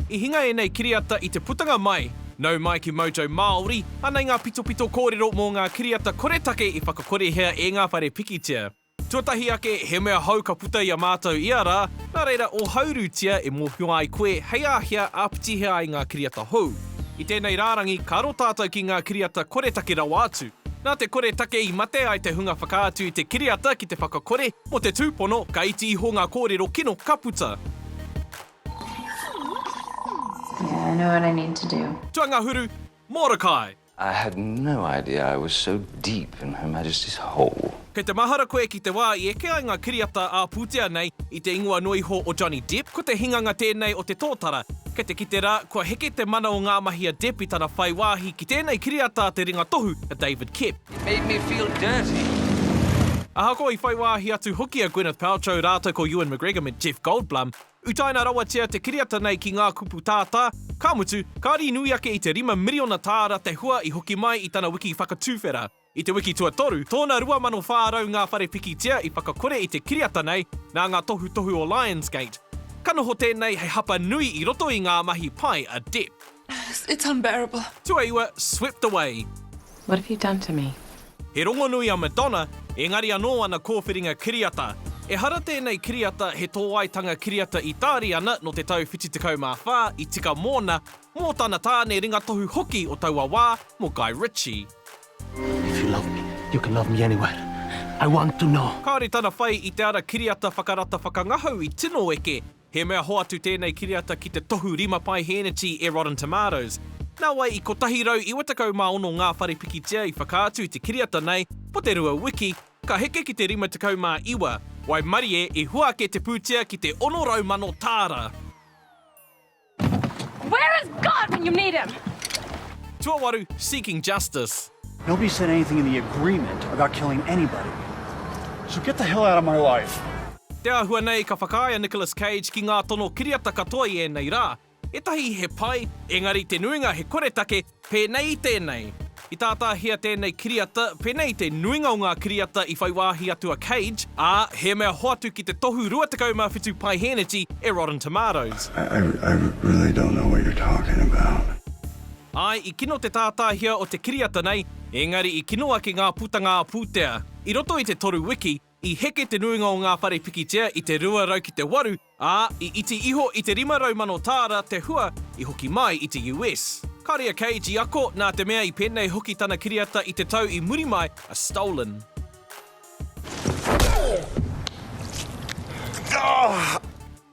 I hinga ēnei kiriata i te putanga mai, nau mai ki Mojo Māori, anei ngā pitopito kōrero mō ngā kiriata koretake i whakakorehea e ngā whare pikitia. Tuatahi ake, he mea hou ka puta i a mātou ia rā, nā reira ōhaurutia e mōhio ai koe hei āhea āpitihia ai ngā kiriata hou. I tēnei rārangi, ka aro tātou ki ngā kiriata koretake rawa atu. Nā te koretake i mate ai te hunga whakaatu i te kiriata ki te whakakore, Mō te tūpono, ka iti iho ngā kōrero kino ka puta. Yeah, I know what I need to do. Tuangahuru, Morokai! I had no idea I was so deep in Her Majesty's hole. Kei te mahara koe ki te wā i eke ai ngā kiriata ā-pūtea nei i te ingoa noa iho o Johnny Depp, ko te hinganga tēnei o te tōtara. Kei te kite rā, kua heke te mana o ngā mahi a Depp i tana whai wāhi ki tēnei kiriata a te ringa tohu a David Koepp. It made me feel dirty. Ahakoa i whai wāhi atu hoki a Gwyneth Paltrow rātou ko Ewan McGregor me Jeff Goldblum, utaina rawatia te kiriata nei ki ngā kupu tātā, ka mutu, kāri nui ake i te rima miriona tāra te hua i hoki mai i tana wiki whakatuwhera. I te wiki tuatoru, tōna 2,400 ngā whare pikitia i whakakore i te kiriata nei nā ngā tohutohu o Lionsgate. Ka noho tēnei hei hapa nui i roto i ngā mahi pai a Depp. It's unbearable. Tuaiwa, swept away. What have you done to me? He rongonui a Madonna, engari anō ana kōwhiringa kiriata. Ehara tēnei kiriata he tōaitanga kiriata Itāriana nō te tau 74 i tika mōna, mō tana tāne ringatohu hoki o taua wā, mō Guy Ritchie. If you love me, you can love me anywhere. I want to know. Kāore tana whai i te ara kiriata whakarata whakangahau i tino eke, He mea hoatu tēnei kiriata ki te tohu rima paihēneti e Rotten Tomatoes. Nā wai i 196 ngā whare pikitia i whakaatu i te kiriata nei mō te rua wiki, ka heke ki te 59, waimarie i hua ake te pūtea ki te 600 mano tāra. Where is God when you need him? Tuawaru, Seeking Justice. Nobody said anything in the agreement about killing anybody. So get the hell out of my life. Te āhua nei ka whakaae a Nicolas Cage ki ngā tono kiriata katoa i ēnei rā. Ētahi he pai, engari te nuinga he koretake, pēnei i tēnei. I tātāhia tēnei kiriata, pēnei i te nuinga o ngā kiriata i whai wāhi atu a Cage, ā, he mea hoatu ki te tohu 27 paeheneti e Rotten Tomatoes. I really don't know what you're talking about. Āe, i kino te tātāhia o te kiriata nei, ēngari i kino ake ngā putanga ā-pūtea. I roto i te toru wiki, i heke te nuinga o ngā whare pikitia i te 200 ki te 8, ā, i iti iho i te 500 mano tāra te hua i hoki mai i te US. Kāre a Cage i ako, nā te mea i pēnei hoki tana kiriata i te tau i muri mai a Stolen.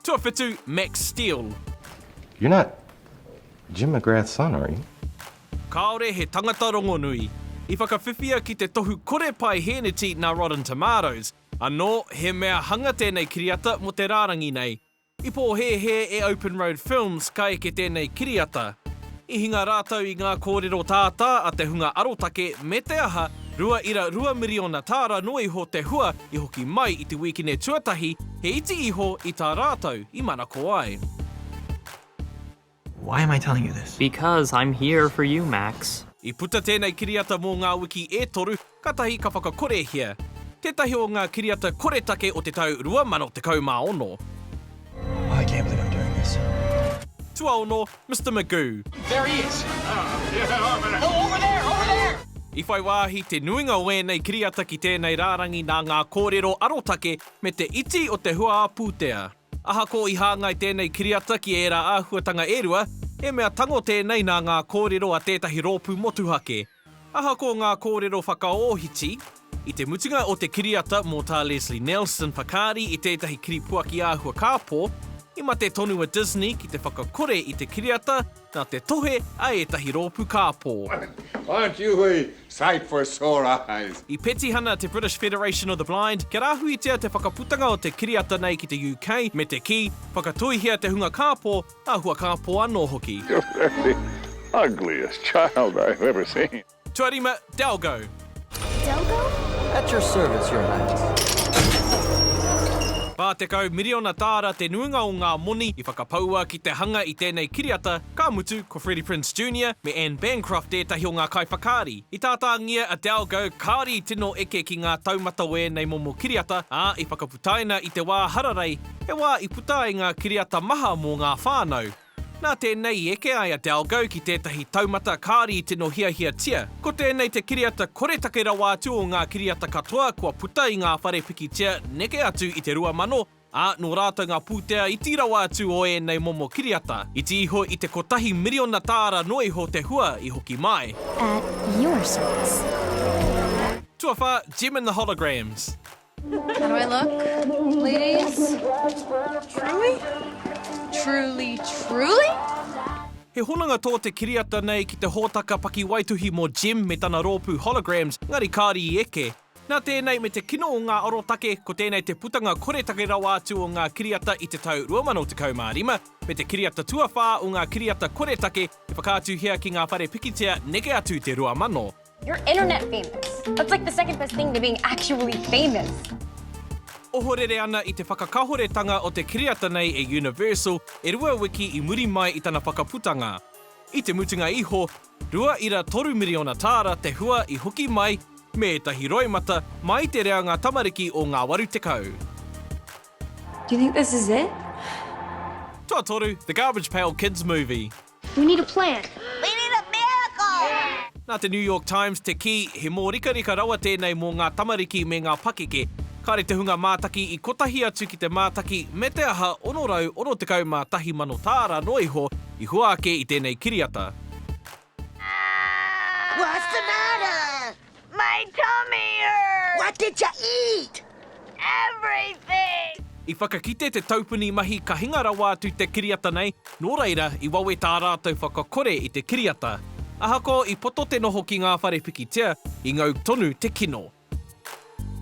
Tuawhitu, Max Steel. You're not Jim McGrath's son, are you? Kāore he tangata rongonui. I whakawhiwhia ki te tohu kore pae hēneti nā Rotten Tomatoes, anō he mea hanga tēnei kiriata mō te rārangi nei. I pōhēhē e Open Road Films ka eke tēnei kiriata. I hinga rātou i ngā kōrero tātā a te hunga arotake me te aha, rua ira rua miriona tāra noa iho te hua i hoki mai i te wīkine tuatahi, he iti iho i tā rātou i manako ai. Why am I telling you this? Because I'm here for you, Max. I puta tēnei kiriata mō ngā wiki e toru, Katahi ka whakakorehia tētahi o ngā kiriata koretake o te tau 2016. Tuaono, Mister Magoo. I whai wāhi te nuinga o ēnei kiriata ki tēnei rārangi nā ngā kōrero arotake me te iti o te hua ā-pūtea. Ahakoa i hāngai tēnei kiriata ki ērā āhuatanga e rua, he mea tango tēnei nā ngā kōrero a tētahi rōpū motuhake, Ahakoa ngā kōrero whakaōhiti, i te mutunga o te kiriata mō Tā Leslie Nelson whakaari i tētahi kiripuaki āhua kāpō, i mate tonu a Disney ki te whakakore i te kiriata nā te tohe a ētahi rōpū kāpō. I petihana te British Federation of the Blind kia rāhuitia te whakaputanga o te kiriata nei ki te UK me te kī, whakatoihia te hunga kāpō Tahua kāpō anō hoki. You're the ugliest child I have ever seen. Tuarima, Delgo. Delgo? At your service, your highness. 40 miriona tāra te nuinga o ngā moni i whakapaua ki te hanga i tēnei kiriata, ka mutu, ko Freddie Prinze Junior me Anne Bancroft ētahi o ngā kaiwhakaari. I tātāngia a Delgo kāri tino eke ki ngā taumata o ēnei momo kiriata, ā, i whakaputaina. Taina i te wā hararei, he wā i puta ai ngā kiriata maha mō ngā whānau. Nā tēnei i eke ai a Dalgo ki tētahi taumata kāri i tino hiahiatia. Ko tēnei te kiriata koretake rawa atu o ngā kiriata katoa kua puta i ngā whare pikitia neke atu i te 2000, ā, nō rātou ngā pūtea iti rawa atu o ēnei momo kiriata. Iti iho i te kotahi miriona tāra noa iho te hua i hoki mai. At your service. Tuawhā, Jem and the Holograms. How do I look? Ladies? Truly? Truly, truly? He hononga tō te kiriata nei ki te hōtaka pakiwaituhi mō Jem me tana rōpū Holograms, engari kāre i eke. Nā tēnei me te kino o ngā arotake, ko tēnei te putanga koretake rawa atu o ngā kiriata i te tau 2015, me te kiriata tuawhā o ngā kiriata koretake e whakaatuhia ki ngā whare pikitia neke atu i te 2000. You're internet famous. That's like the second best thing to being actually famous. Ohorere ana i te whakakahoretanga o te kiriata nei e Universal e rua wiki i muri mai i tana whakaputanga. I te mutunga iho, rua ira toru miriona tāra te hua i hoki mai me ētahi roimata mā i te reanga tamariki o ngā waru tekau. Do you think this is it? Tuatoru, The Garbage Pail Kids Movie. We need a plan. We need a miracle. Nā te New York Times te kī, he mōrikarika rawa tēnei mō ngā tamariki me ngā pakeke. Kāre te hunga mātaki i kotahi atu ki te mātaki me te aha 661 mano tāra noa iho i hua ake i tēnei kiriata. What's the matter? My tummy hurts! What did ya eat? Everything! I whakakite te taupuni mahi ka hinga rawa atu te kiriata nei, nō reira i wawe tā rātou whakakore i te kiriata. Ahakoa i poto te noho ki ngā whare pikitia, i ngau tonu te kino.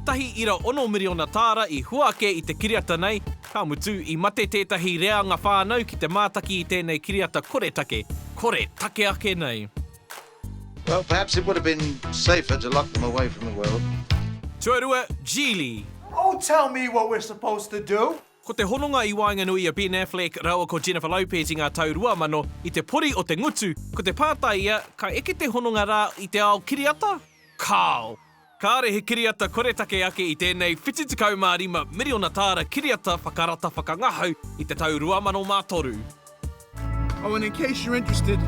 Tahi ira ono miriona tāra i hua ake i te kiriata nei, ka mutu i mate tētahi reanga whānau ki te mātaki i tēnei kiriata koretake, kore take ake nei. Well, perhaps it would have been safer to lock them away from the world. Tuarua, Geely. Oh, tell me what we're supposed to do! Ko te hononga i waenganui i a Ben Affleck rāua ko Jennifer Lopez i ngā tau 2000, i te pori o te ngutu, ko te pātai ia, ka eke te hononga rā i te ao kiriata? Kāo! Kāore he kiriata koretake ake i tēnei 75 miriona tāra kiriata whakarata whakangahau i te tau 2003. Oh and in case you're interested,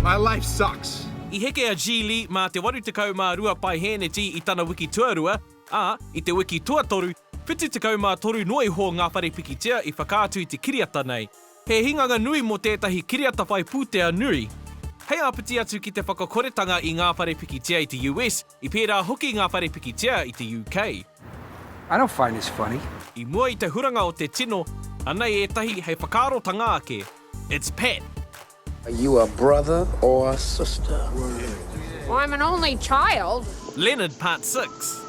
my life sucks. I heke a Ji Lee mā te 82 paehēneti i tana wiki tuarua, ā, i te wiki tuatoru, 73 noa iho ngā whare pikitia i whakaatu i te kiriata nei. He hinganga nui mō tētahi kiriata whai pūtea nui. Hei āpiti atu ki te whakakoretanga i ngā whare pikitia i te US, i pērā hoki ngā whare pikitia i te UK. I don't find this funny. I mua i te huranga o te tino, anei ētahi hei whakaarotanga ake. It's Pat. Are you a brother or a sister? I'm an only child. Leonard, Part Six.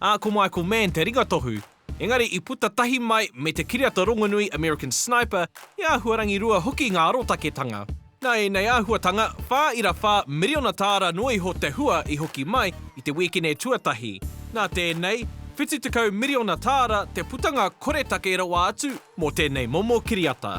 Ā, ko Michael Mann te ringatohu, engari i puta tahi mai me te kiriata rongonui American Sniper, he āhuarangi rua hoki ngā arotaketanga. Nā ēnei āhuatanga, whā ira whā miriona tāra noa iho te hua i hoki mai i te wēkine tuatahi. Nā tēnei, whitu tekau miriona tāra te putanga koretake rawa atu mō tēnei momo kiriata.